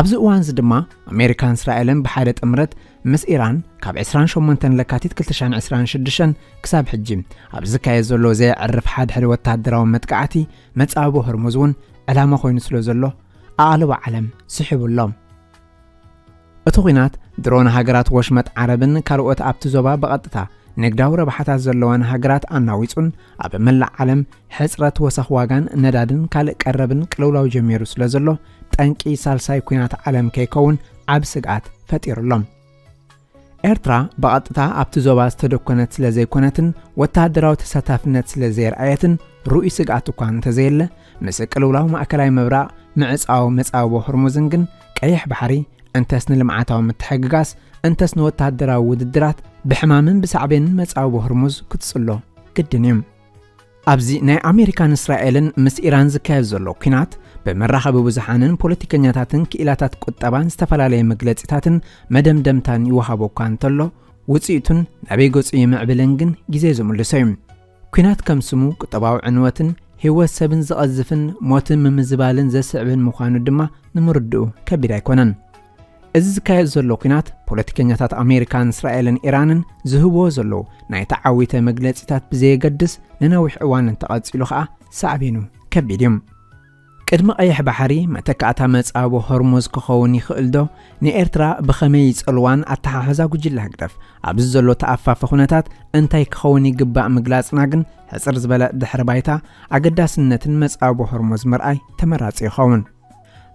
ኣብዚ እዋንዚ ድማ ኣሜሪካን እስራኤልን ብሓደ ጥምረት ምስ ኢራን ካብ ዕስራን ሸሞንተን ለካቲት ክልተ ሽሕን ዕስራን ሽዱሽተን ክሳብ ሕጂ ኣብ ዝካየድ ዘሎ ዘየዕርፍ ሓድሕድ ወተሃደራዊ መጥቃዕቲ መጻብቦ ህርሙዝ እውን ዕላማ ኮይኑ ስለ ዘሎ ኣቓልቦ ዓለም ስሒቡ ኣሎ። እቲ ኲናት ድሮ ንሃገራት ወሽመጥ ዓረብን ካልኦት ኣብቲ ዞባ ብቐጥታ ንግዳዊ ረብሓታት ዘለወን ሃገራት ኣናዊጹን ኣብ መላእ ዓለም ሕጽረት ወሰኽ ዋጋን ነዳድን ካልእ ቀረብን ቅልውላው ጀሚሩ ስለ ዘሎ ጠንቂ ሳልሳይ ኩናት ዓለም ከይከውን ዓብ ስግኣት ፈጢሩሎም። ኤርትራ ብቐጥታ ኣብቲ ዞባ ዝተደኮነት ስለ ዘይኮነትን ወተሃደራዊ ተሳታፍነት ስለ ዘየርኣየትን ርኡይ ስግኣት እኳ እንተዘየለ ምስ ቅልውላው ማእከላይ ምብራቕ ምዕጻው መጻብቦ ሆርሙዝን ግን ቀይሕ ባሕሪ እንተስ ንልምዓታዊ ምትሕግጋስ እንተስ ንወተሃደራዊ ውድድራት ብሕማምን ብሳዕቤንን መጻብቦ ሆርሙዝ ክትጽሎ ግድን እዩ። ኣብዚ ናይ ኣሜሪካን እስራኤልን ምስ ኢራን ዝካየድ ዘሎ ኲናት ብመራኸቢ ብዙሓንን ፖለቲከኛታትን ክኢላታት ቁጠባን ዝተፈላለየ መግለጺታትን መደምደምታን ይወሃቦ እኳ እንተሎ ውጽኢቱን ናበይ ገጹ ይምዕብልን ግን ግዜ ዝምልሶ እዩ ኲናት ከም ስሙ ቁጠባዊ ዕንወትን ህይወት ሰብን ዝቐዝፍን ሞትን ምምዝባልን ዘስዕብን ምዃኑ ድማ ንምርድኡ ከቢድ ኣይኮነን እዚ ዝካየድ ዘሎ ኩናት ፖለቲከኛታት ኣሜሪካን እስራኤልን ኢራንን ዝህብዎ ዘለዉ ናይ ተዓዊተ መግለጺታት ብዘየገድስ ንነዊሕ እዋን እንተቐጺሉ ኸኣ ሳዕቤኑ ከቢድ እዩ። ቅድሚ ቀይሕ ባሕሪ መተካእታ መጻቦ ሆርሙዝ ክኸውን ይኽእልዶ? ንኤርትራ ብኸመይ ይጸልዋን ኣተሓሕዛ ጉጅለ ህግደፍ ኣብዚ ዘሎ ተኣፋፊ ኩነታት እንታይ ክኸውን ይግባእ ምግላጽና ግን ሕጽር ዝበለ ድሕሪ ባይታ ኣገዳስነትን መጻቦ ሆርሙዝ ምርኣይ ተመራጺ ይኸውን።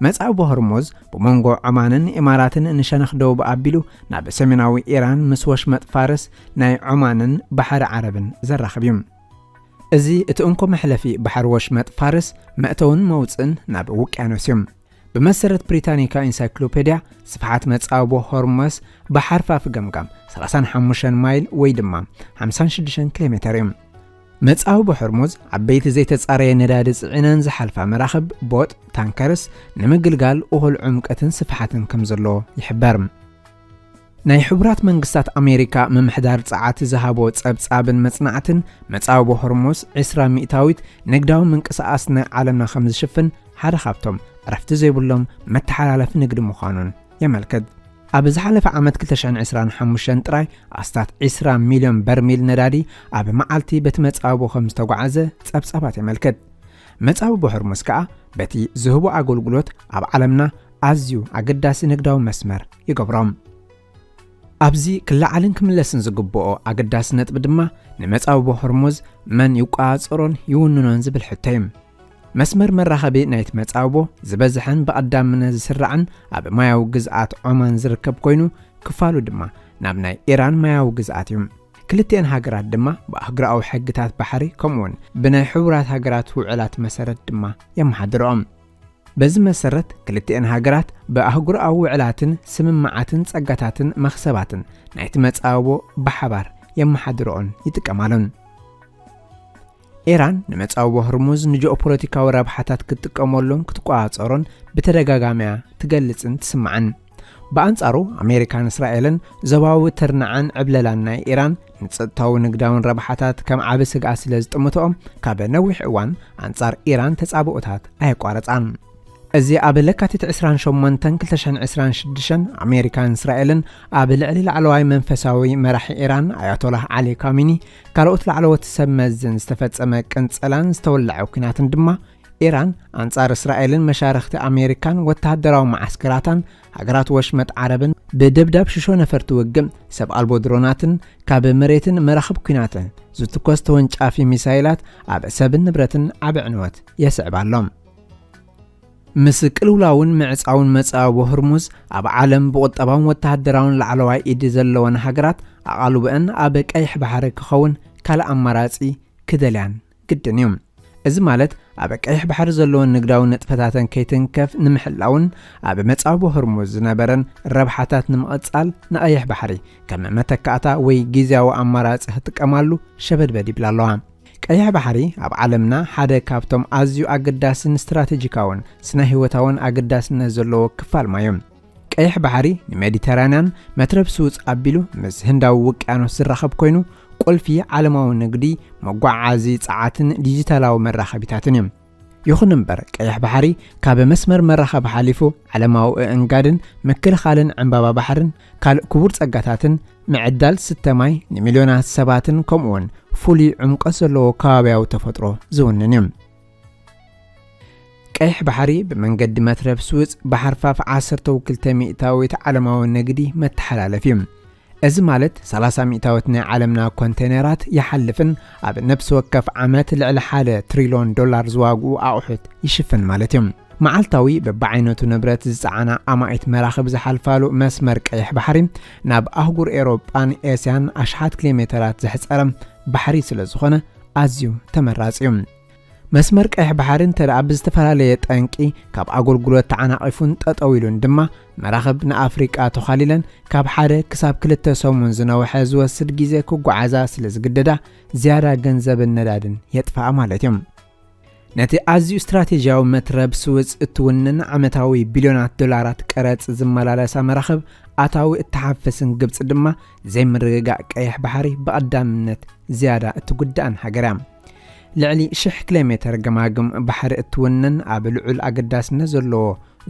መጻብቦ ሆርሙዝ ብሞንጎ ዖማንን ኢማራትን ንሸነኽ ደቡብ ኣቢሉ ናብ ሰሜናዊ ኢራን ምስ ወሽመጥ ፋርስ፣ ናይ ዖማንን ባሕሪ ዓረብን ዘራኽብ እዩ። እዚ እቲ እንኮ መሕለፊ ባሕሪ ወሽመጥ ፋርስ መእተውን መውጽእን ናብ ውቅያኖስ እዩ። ብመሰረት ብሪታኒካ ኢንሳይክሎፔድያ ስፍሓት መጻብቦ ሆርሙዝ ብሓርፋፍ ገምጋም ሰላሳን ሓሙሽተን ማይል ወይ ድማ ሓምሳን ሽዱሽተን ኪሎሜተር እዩ። መጻኢ ብሆርሙዝ ዓበይቲ ዘይተጻረየ ነዳዲ ጽዒነን ዝሓልፋ መራኽብ፣ ቦጥ፣ ታንከርስ፣ ንምግልጋል እኹል ዑምቀትን ስፍሓትን ከም ዘሎ ይሕበር። ናይ ሕቡራት መንግስታት ኣሜሪካ ምምሕዳር ጸዓት ዝሃቦ ጸብጻብን መጽናዕትን፣ መጻብቦ ሆርሙዝ ዕስራ ሚእታዊት ንግዳዊ ምንቅስቓስ ናይ ዓለምና ከም ዝሽፍን ሓደ ካብቶም ዕረፍቲ ዘይብሎም መተሓላለፊ ንግዲ ምዃኑን የመልክት። ኣብ ዝሓለፈ ዓመት 2025 ጥራይ ኣስታት 20 ሚልዮን በርሚል ነዳዲ ኣብ መዓልቲ በቲ መጻብቦ ከም ዝተጓዓዘ ጸብጻባት የመልክት። መጻብቦ ሆርሙዝ ከኣ በቲ ዝህቦ ኣገልግሎት ኣብ ዓለምና ኣዝዩ ኣገዳሲ ንግዳዊ መስመር ይገብሮም። ኣብዚ ክለዓልን ክምለስን ዝግብኦ ኣገዳሲ ነጥቢ ድማ ንመጻብቦ ሆርሙዝ መን ይቆጻጸሮን ይውንኖን ዝብል ሕቶ እዩ። መስመር መራኸቢ ናይቲ መጻብቦ ዝበዝሐን ብቐዳምነት ዝስራዕን ኣብ ማያዊ ግዝኣት ዖማን ዝርከብ ኮይኑ፣ ክፋሉ ድማ ናብ ናይ ኢራን ማያዊ ግዝኣት እዩ። ክልቲኤን ሃገራት ድማ ብኣህጉራዊ ሕግታት ባሕሪ ከምኡውን ብናይ ሕቡራት ሃገራት ውዕላት መሰረት ድማ የመሓድርኦም። በዚ መሰረት ክልቲኤን ሃገራት ብኣህጉራዊ ውዕላትን ስምምዓትን ጸጋታትን መኽሰባትን ናይቲ መጻብቦ ብሓባር የመሓድርኦን ይጥቀማሉን። ኢራን ንመጻብቦ ህርሙዝ ንጂኦፖለቲካዊ ረብሓታት ክትጥቀመሉን ክትቆጻጸሮን ብተደጋጋሚ'ያ ትገልጽን ትስማዕን። ብኣንጻሩ ኣሜሪካን እስራኤልን ዞባዊ ትርናዐን ዕብለላን ናይ ኢራን ንጸጥታዊ ንግዳውን ረብሓታት ከም ዓቢ ስግኣት ስለ ዝጥምትኦም ካብ ነዊሕ እዋን ኣንጻር ኢራን ተጻብኦታት ኣየቋረጻን። እዚ ኣብ ለካቲት ዕስራን ሸሞንተን ክልተ ሽሕን ዕስራን ሽዱሽተን ኣሜሪካን እስራኤልን ኣብ ልዕሊ ላዕለዋይ መንፈሳዊ መራሒ ኢራን ኣያቶላህ ዓሊ ካሚኒ ካልኦት ላዕለዎት ሰብ መዝን ዝተፈጸመ ቅንጸላን ዝተወለዐ ኲናትን ድማ ኢራን ኣንጻር እስራኤልን መሻርኽቲ ኣሜሪካን ወተሃደራዊ መዓስከራታን ሃገራት ወሽመጥ ዓረብን ብደብዳብ ሽሾ ነፈርቲ ውግእ ሰብ ኣልቦ ድሮናትን ካብ መሬትን መራኽብ ኲናትን ዝትኮስ ተወንጫፊ ሚሳይላት ኣብ ሰብን ንብረትን ዓቢ ዕንወት የስዕብ ኣሎ ምስ ቅልውላውን ምዕጻውን መጻብቦ ህርሙዝ፣ ኣብ ዓለም ብቑጠባውን ወተሃደራውን ላዕለዋይ ኢድ ዘለወን ሃገራት ኣቓልቦኣን ኣብ ቀይሕ ባሕሪ ክኸውን ካልእ ኣማራጺ ክደልያን ግድን እዩ። እዚ ማለት ኣብ ቀይሕ ባሕሪ ዘለወን ንግዳዊ ንጥፈታተን ከይትንከፍ ንምሕላውን ኣብ መጻብቦ ህርሙዝ ዝነበረን ረብሓታት ንምቕጻል ንቐይሕ ባሕሪ ከም መተካእታ ወይ ግዝያዊ ኣማራጺ ክጥቀማሉ ሸበድበድ ይብላ ኣለዋ። ቀይሕ ባሕሪ ኣብ ዓለምና ሓደ ካብቶም ኣዝዩ ኣገዳስን ስትራተጂካውን ስነ-ህይወታውን ኣገዳስነት ዘለዎ ክፋል ማይ እዩ። ቀይሕ ባሕሪ ንሜዲተራንያን መትረብ ስውጽ ኣቢሉ ምስ ህንዳዊ ውቅያኖስ ዝራኸብ ኮይኑ፣ ቁልፊ ዓለማዊ ንግዲ፣ መጓዓዓዚ፣ ጸዓትን ዲጂታላዊ መራኸቢታትን እዩ። ይኹን እምበር ቀይሕ ባሕሪ ካብ መስመር መራኸቢ ሓሊፉ ዓለማዊ እእንጋድን ምክልኻልን ዕምባባ ባሕርን ካልእ ክቡር ጸጋታትን ምዕዳል ስተ ማይ ንሚልዮናት ሰባትን ከምኡውን ፍሉይ ዕምቆት ዘለዎ ከባብያዊ ተፈጥሮ ዝውንን እዩ። ቀይሕ ባሕሪ ብመንገዲ መትረብ ስውጽ ብሓርፋፍ ዓሰርተው ክልተ ሚእታዊት ዓለማዊ ንግዲ መተሓላለፍ እዩ። እዚ ማለት ሰላሳ ሚእታዊት ናይ ዓለምና ኮንተይነራት ይሓልፍን ኣብ ነብሲ ወከፍ ዓመት ልዕሊ ሓደ ትሪሎን ዶላር ዝዋግኡ ኣቑሑት ይሽፍን ማለት እዩ። መዓልታዊ በብዓይነቱ ንብረት ዝጸዓና ኣማኢት መራኽብ ዝሓልፋሉ መስመር ቀይሕ ባሕሪ ናብ ኣህጉር ኤሮጳን ኤስያን ኣሽሓት ኪሎሜተራት ዘሕጸረ ባሕሪ ስለዝኾነ ኣዝዩ ተመራጺ እዩ። መስመር ቀይሕ ባሕሪ እንተደኣ ብዝተፈላለየ ጠንቂ ካብ ኣገልግሎት ተዓናቒፉን ጠጠው ኢሉን ድማ መራኽብ ንኣፍሪቃ ተዃሊለን ካብ ሓደ ክሳብ ክልተ ሰሙን ዝነውሐ ዝወስድ ግዜ ክጓዓዛ ስለ ዝግደዳ ዝያዳ ገንዘብን ነዳድን የጥፍኣ ማለት እዮም። ነቲ ኣዝዩ ስትራቴጂያዊ መትረብ ስውዝ እትውንን ዓመታዊ ቢልዮናት ዶላራት ቀረጽ ዝመላለሳ መራኽብ ኣታዊ እትሓፍስን ግብጺ ድማ ዘይምርግጋእ ቀይሕ ባሕሪ ብቐዳምነት ዝያዳ እትጉዳእን ሃገር እያ። ልዕሊ ሽሕ ኪሎሜተር ገማግም ባሕሪ እትውንን ኣብ ልዑል ኣገዳስነት ዘለዎ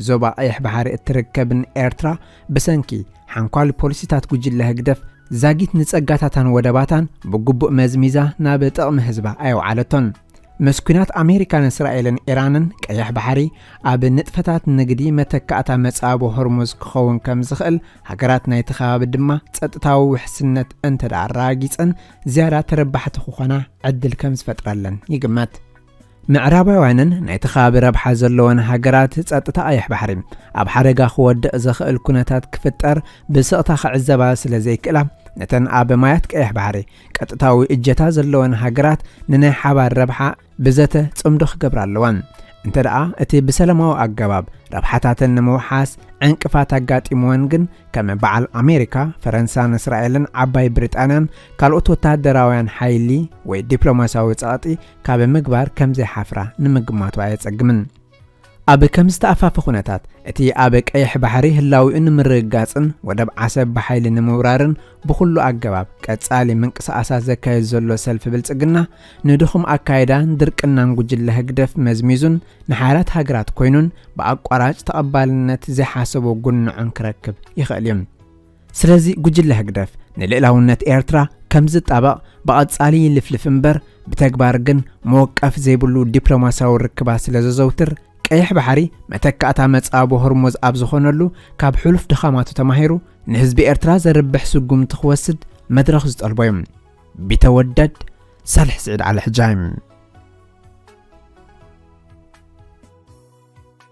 ዞባ ቀይሕ ባሕሪ እትርከብን ኤርትራ ብሰንኪ ሓንኳሊ ፖሊሲታት ጉጅለ ህግደፍ ዛጊት ንጸጋታታን ወደባታን ብግቡእ መዝሚዛ ናብ ጥቕሚ ህዝባ ኣየውዓለቶን። ምስ ኩናት ኣሜሪካን እስራኤልን ኢራንን ቀይሕ ባሕሪ ኣብ ንጥፈታት ንግዲ መተካእታ መጻቦ ሆርሙዝ ክኸውን ከም ዝኽእል ሃገራት ናይቲ ከባቢ ድማ ጸጥታዊ ውሕስነት እንተደኣ ኣረጋጊጸን ዝያዳ ተረባሕቲ ክኾና ዕድል ከም ዝፈጥረለን ይግመት። ምዕራባውያንን ናይቲ ከባቢ ረብሓ ዘለወን ሃገራት ጸጥታ ቀይሕ ባሕሪ ኣብ ሓደጋ ክወድቕ ዝኽእል ኩነታት ክፍጠር ብስቕታ ክዕዘባ ስለ ዘይክእላ፣ ነተን ኣብ ማያት ቀይሕ ባሕሪ ቀጥታዊ እጀታ ዘለወን ሃገራት ንናይ ሓባር ረብሓ ብዘተ ጽምዶ ክገብራ ኣለዋን። እንተ ደኣ እቲ ብሰለማዊ ኣገባብ ረብሓታተን ንምውሓስ ዕንቅፋት ኣጋጢምወን ግን ከም በዓል ኣሜሪካ፣ ፈረንሳን እስራኤልን ዓባይ ብሪጣንያን ካልኦት ወተሃደራውያን ሓይሊ ወይ ዲፕሎማስያዊ ጸቕጢ ካብ ምግባር ከም ዘይሓፍራ ንምግማቱ ኣየጸግምን። ኣብ ከም ዝተኣፋፈ ኩነታት፣ እቲ ኣብ ቀይሕ ባሕሪ ህላዊኡ ንምርግጋጽን ወደብ ዓሰብ ብሓይሊ ንምውራርን ብኹሉ ኣገባብ ቀጻሊ ምንቅስቓሳት ዘካይድ ዘሎ ሰልፊ ብልጽግና፣ ንድኹም ኣካይዳን ድርቅናን ጉጅለ ህግደፍ መዝሚዙን ንሓያላት ሃገራት ኮይኑን ብኣቋራጭ ተቐባልነት ዘይሓሰቦ ጉንዖን ክረክብ ይኽእል'ዩ። ስለዚ ጉጅለ ህግደፍ ንልእላውነት ኤርትራ ከም ዝጣበቕ ብቐጻሊ ይልፍልፍ እምበር ብተግባር ግን መወቀፍ ዘይብሉ ዲፕሎማስያዊ ርክባት ስለ ዘዘውትር ቀይሕ ባሕሪ መተካእታ መጻቦ ሆርሞዝ ኣብ ዝኾነሉ ካብ ሕሉፍ ድኻማቱ ተማሂሩ ንህዝቢ ኤርትራ ዘርብሕ ስጉምቲ ክወስድ መድረኽ ዝጠልቦ እዩ። ቢተወደድ ሳልሕ ስዒድ ዓሊ ሕጃይ